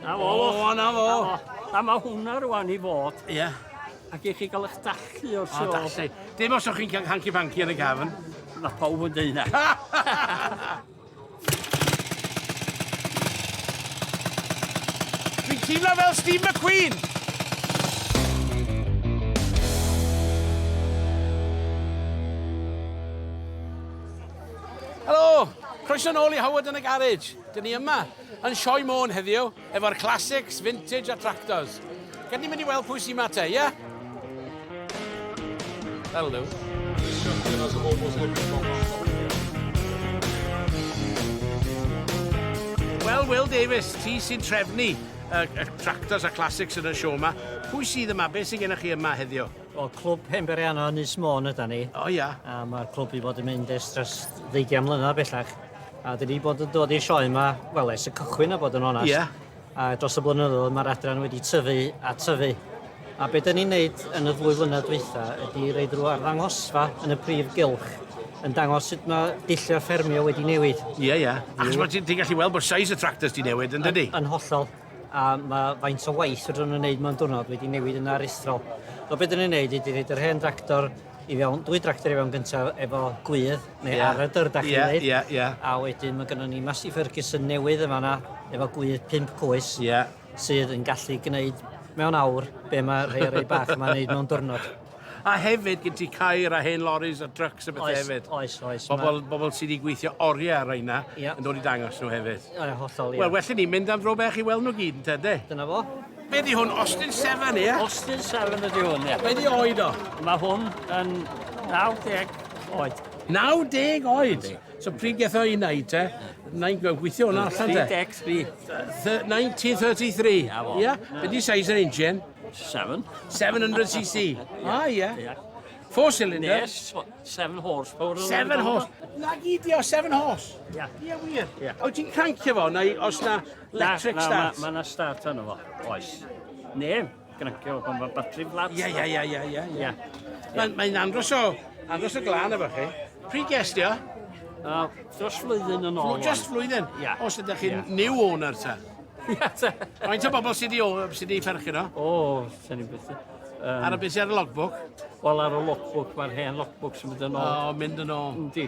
Na fo. O, na fo. A mae hwnna rwan i fod. Ie. Yeah. Ac i chi gael eich dallu o'r sio. O, dallu. Dim os o'ch chi'n cael hanky fanky yn y gafn. Mae pawb yn dweud na. Dwi'n teimlo fel Steve McQueen. Croeso nôl i Howard yn y Garage. Dyn ni yma. Yn Sioe Môn heddiw efo'r classics, vintage a tractors. Gad ni mynd i weld pwy sy'n ma te, ie? That'll do. Wel, Will Davies, ti sy'n trefnu y, y tractors a classics yn y sio yma. Pwy sydd yma? Be sy'n gennych chi yma heddiw? Wel, clwb Pemberiano yn Nis Môn yda ni. O ia. A mae'r clwb i fod yn mynd ers dros ddeugian mlynedd bellach. A dwi 'di bod yn dod i'r sioe yma, wel, ers y cychwyn a bod yn onest. Yeah. A dros y blynyddoedd mae'r adran wedi tyfu a tyfu. A beth dyn ni'n neud yn y ddwy flynedd dweitha ydy reid rhyw arddangosfa yn y prif gylch yn dangos sut mae dulliau ffermio wedi newid. Ie, yeah, ie. Yeah. Achos mae ti'n ti gallu weld bod size y tractors di newid, yn dydy? Yn hollol. A mae faint o waith rydyn nhw'n wneud mewn diwrnod wedi newid yn aruthrol. So beth dyn ni'n neud ydy reid yr hen tractor i fewn, dwy dractor i fewn gyntaf efo gwydd, neu yeah. ar y dyrd ac yeah, i yeah, yeah. a wedyn mae gennym ni Massey Ferguson newydd yma na, efo gwydd 5 coes, yeah. sydd yn gallu gwneud mewn awr be mae rhai rei bach yma'n neud mewn diwrnod. A hefyd, gen ti cair a hen loris a trucks a bethau hefyd. Oes, oes. Bobl, ma... bobl sydd wedi gweithio oriau ar reina yeah. yn dod i dangos nhw hefyd. Ie, hollol, ie. Wel, well ni mynd am dro bech i weld nhw gyd, yn tede? Dyna fo. Be di hwn? Austin 7, ie? Yeah? Austin 7 ydi hwn, ie. Yeah. Be di oed o? Mae hwn yn 90 oed. 90 oed? So pryd gath o'i wneud te? Na'n gweithio hwnna allan te? 33. 1933? Ia? Be di size yr engine? 7. 700cc? Ah, ia. Four cylinder? Yes, seven horsepower. Seven horse. Na gyd o seven horse? Ia. Ia wir? Ia. O ti'n crancio fo, neu os na Electric na, start. Mae yna start arno fo, oes. Ne, grancio pan mae batri flat. Ie, ie, ie, ie, ie. ie. Mae'n mae andros o, andros o glan efo chi. Pryd gest i o? Uh, dros flwyddyn yn ôl. Just flwyddyn? Ie. Yeah. Os ydych chi'n yeah. new owner ta? Ie, ta. Faint o bobl sydd wedi perchyn o? O, sy'n ni'n beth. Um, ar y beth sy'n ar y logbook? Wel, ar y logbook, mae'r hen logbook sy'n mynd yn ôl. O, mynd yn ôl. Yndi.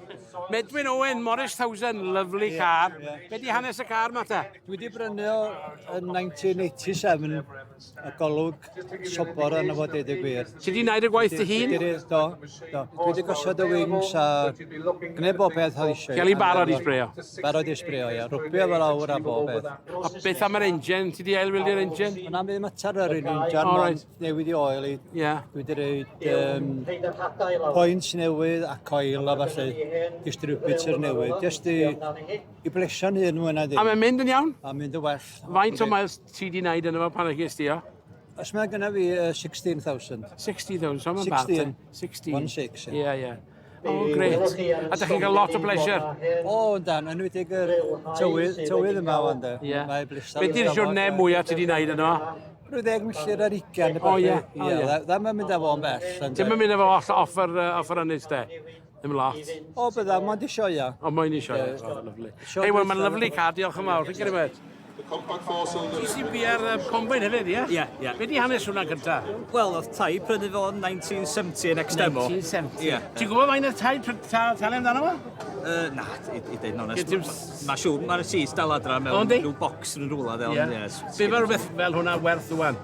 Medwyn Owen, Morris Thousand, lovely yeah, car. Yeah. Be di hanes y car ma ta? Dwi wedi brynu o yn 1987, y golwg sobor yn y fod ei gwir. Ti di wneud y gwaith dy hun? Do, do. Dwi wedi gosod y wings a gwneud bob beth oedd eisiau. Gael ei barod i sbreo? Barod i sbreo, ia. Rwbio fel awr a bob beth. A beth am yr engine? Ti di ailwylio'r engine? Yna mi mater yr un engine. All right. newid i oil i. Ie. Yeah. Dwi wedi rhaid um, points newydd a coil a falle distributor newydd. Just i, i blesio'n hun mwy na ddim. A mae'n mynd yn iawn? A mynd yn well. Faint o miles ti di wneud yn efo pan ag ysdi o? Os mae gyda fi uh, 16,000. 60,000, so mae'n bad. 16. 16. 16, ie. Ie, ie. O, oh, gret. A da chi'n cael lot o bleser? O, oh, dan, yn wedi'ch yr tywydd, tywydd yma o'n da. Ie. Mae bleser. Be di'r siwrne mwyaf ti wedi gwneud yno? Rwy'n ddeg milltir ar ugen. O, ie. O, ie. Ddim yn mynd â fo'n bell. Ddim yn mynd â fo off, off, yr, off yr ynys, de? Ddim lot. O, bydda, mae'n di sioia. O, mae'n di sioia. O, lyflu. Hei, wel, mae'n lyflu car, diolch yn fawr. Rwy'n gyrru The compact four cylinder. GCB ar uh, combine hefyd, ie? Ie, ie. Be di hanes hwnna gynta? Wel, oedd tai prynu fo yn 1970 yn Extemo. 1970. Ie. Ti'n gwybod mae'n y tai talu amdano fo? Uh, na, i ddeud yn onest. Mae siw, mae'r sis dal adra mewn rhyw bocs yn rhywle fel. Ie. Be mae rhywbeth fel hwnna werth rwan?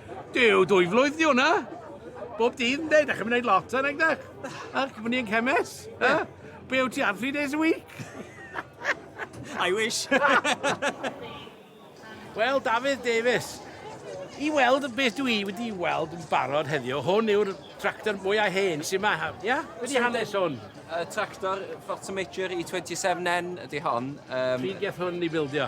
Dyw dwy flwydd di hwnna. Bob dydd yn dweud, ac yn mynd lot ar egdach. Ac yn mynd i'n cemes. Yeah. Be yw ti ar three days a week? I wish. Wel, Dafydd Davies, i weld beth dwi i wedi weld yn barod heddiw, hwn yw'r tractor mwyaf hen sy'n ma, ia? Yeah? Wedi so, hanes hwn. Uh, tractor Forza Major i 27N ydy hon. Um, Pryd geth hwn i bildio?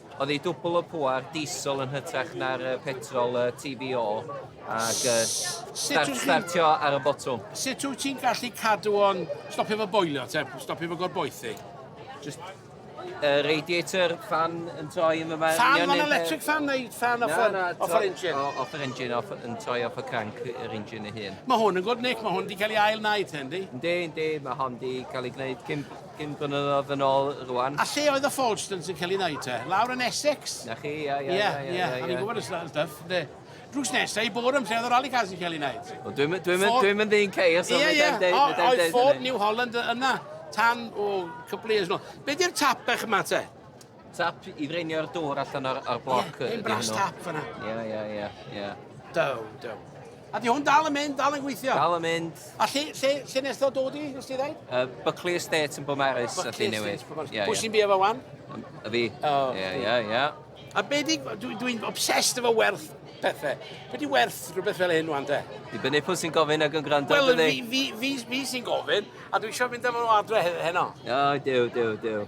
Oedd hi dwbl y pŵar, diesel yn hytrach na'r petrol TBO, ac startio ar y botwm. Sut wyt ti'n gallu cadw o'n stopio fo boilio te, stopio fo gorboethu? Just y radiator fan yn troi yn yma. Fan, fan electric fan neu fan off, na, off yr engine? O, off yr engine, off, yn troi off y crank yr engine ei hun. Mae hwn yn gwrdd, Nick, mae hwn wedi cael ei ail wneud hyn, di? Yndi, yndi, mae hwn wedi cael ei gwneud cyn Cyn blynyddoedd yn ôl rwan. A lle oedd y Falstons yn cael ei wneud te? Lawr yn Essex? Na chi, ia, ia, ia. Ia, ia, o'n i'n gwybod y stuff, de. Drws nesaf i Boreham lle oedd y rally cars yn cael ei wneud. Wel, dwi'n mynd dwi dwi mynd i'n ceir, so yeah, yeah. dweud hynny. Oedd Ford New Holland yna tan o cwpl eus nôl. Be di'r tapech yma te? Tap i ddreinio'r dŵr allan o'r, or bloc. Ie, yeah, brass tap fyna. Ie, ie, ie, ie. Do, do. A di hwn dal yn mynd, dal yn gweithio? Dal yn mynd. A lle, lle, lle nes ddo dod i, nes ti ddeud? Uh, Buckley Estate yn Bwmaris, a lle newydd. Yeah, Pwy sy'n byw efo wan? A fi. Oh, ie, ie, ie. A be di, dwi'n dwi obsessed efo werth pethau. Be di werth rhywbeth fel hyn wan, de? Di bynnu pwy sy'n gofyn ag yn gwrando, Wel, fi, fi, fi, fi sy'n gofyn, a dwi eisiau mynd efo adre heno. O, dew, dew, dew.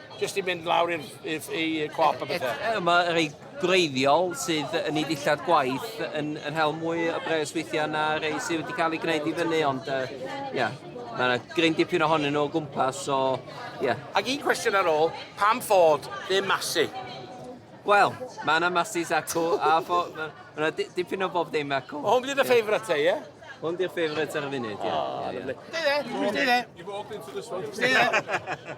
Jyst i mynd lawr i'r i, i cwap a bethau. E, e, mae rhai gwreiddiol sydd yn ei ddillad gwaith yn, yn hel mwy o bres weithiau na rhai sydd wedi cael ei gwneud i fyny, ond ie, uh, yeah, mae yna gryn dipyn ohonyn nhw o gwmpas, so ie. Yeah. Ac un cwestiwn ar ôl, pam fod ddim masu? Wel, mae yna masus acw, a fo, mae yna dipyn o bob ddim acw. O, hwn bydd y ffeifryd te, ie? Hwn di'r ffeifryd ar y funud, ie. Oh, ie, ie. Stay there, stay there. You've walked into this one. Stay there.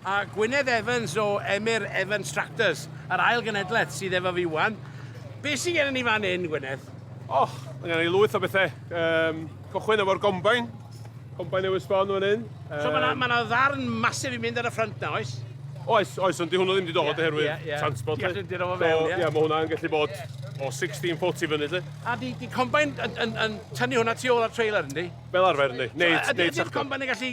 A Gwynedd Evans o Emyr Evans Tractors, yr ail genedlaeth sydd efo fi wan. Be sy'n gen i ni fan hyn, Gwynedd? O, mae gen i lwyth o bethau. Um, cychwyn efo'r gombain. Gombain newydd sbon fan hyn. Um, so mae yna ddarn masif i mynd ar y ffrynt na, oes? Oes, oes, ond di hwnnw ddim wedi dod yeah, oherwydd yeah, yeah. transport. Di allu dod o fe, ie. Ie, mae hwnna'n gallu bod o 16 foot i fyny, lle. A di, di combine yn, yn, yn tynnu hwnna tu ôl ar trailer, yndi? Fel arfer, yndi. Neud, so, neud sachta. Ydy'r combine yn gallu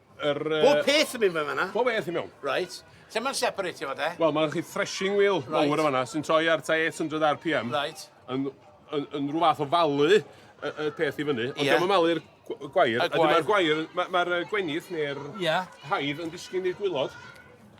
Yr, uh... Bob peth yn mynd fe fanna? Bob peth yn mewn. Right. Lle mae'n separatio fo de? Wel, mae'n chi threshing wheel right. mawr o fanna sy'n troi ar ta 800 RPM. Right. Yn, yn, yn rhyw fath o falu y, y peth i fyny. Ond yeah. dyma malu'r gwair. A dyma'r gwair, mae'r ma, ma gwenydd neu'r yeah. haidd yn disgyn i'r gwylod.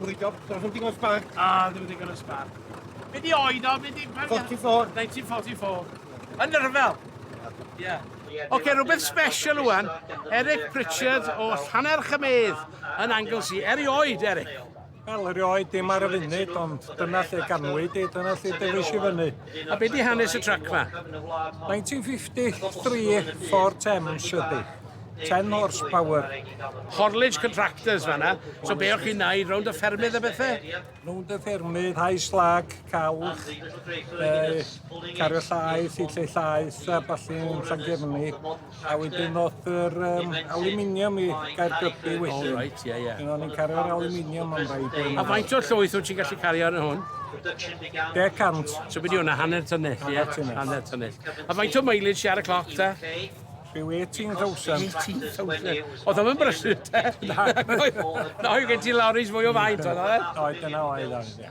Good job. Does dim digon o sbarc. Ah, ddim digon o sbarc. Be di oed o? Be di... 44. 1944. Yn nyrfel. Ie. Oce, rhywbeth special wan. Eric Pritchard o Llanner Chymedd yn Anglesey. Eri oed, Eric. Wel, erioed dim ar y funud, ond dyna lle ganwyd i, dyna lle dewis i fyny. A be di hanes y trac ma? 1953 Ford Thames ydi. 10 horsepower. Horledge Contractors fanna. So be o'ch chi'n neud rownd y ffermydd a bethau? Rownd y ffermydd, hau slag, calch, eh, cario llaeth, i lle llaeth a ballu yn Llangefni. A wedyn o'dd yr yym aluminium i Gaergybi wedyn. O reit, ie, ie. O'n i'n cario'r aluminium am rai blynyddoedd. A faint o'r llwyth wyt ti'n gallu cario ar y hwn? Deg cant. So beth yw hwnna, hanner tynnell, ie? Hanner tynnell. A faint o mileage ti ar y cloc ta? Rhyw 18,000. 18,000. Oedd o'n brysur te? Na. Na, oedd gen ti lorries mwy o faint oedd oedd? Oedd, dyna oedd oedd, ie.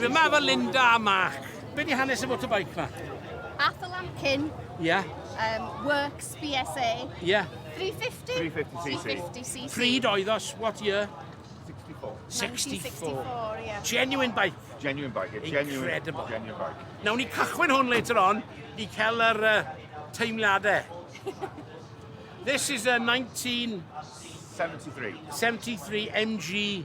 Dyma fy Linda a Mark. Be di hanes y motorbike ma? Athel Lamkin. Ie. Yeah. Um, Works BSA. Ie. Yeah. 350? 350cc. Pryd oedd os? What year? 64. 64. yeah. Genuine bike. Genuine bike. Yeah. Genuine, Incredible. Genuine bike. Nawn ni cychwyn hwn later on i cael yr uh, teimladau. This is a 19... 73. 73 MG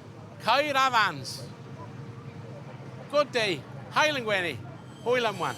Caer Afans. Good day. Hael yn gwenu. Hwyl am wan.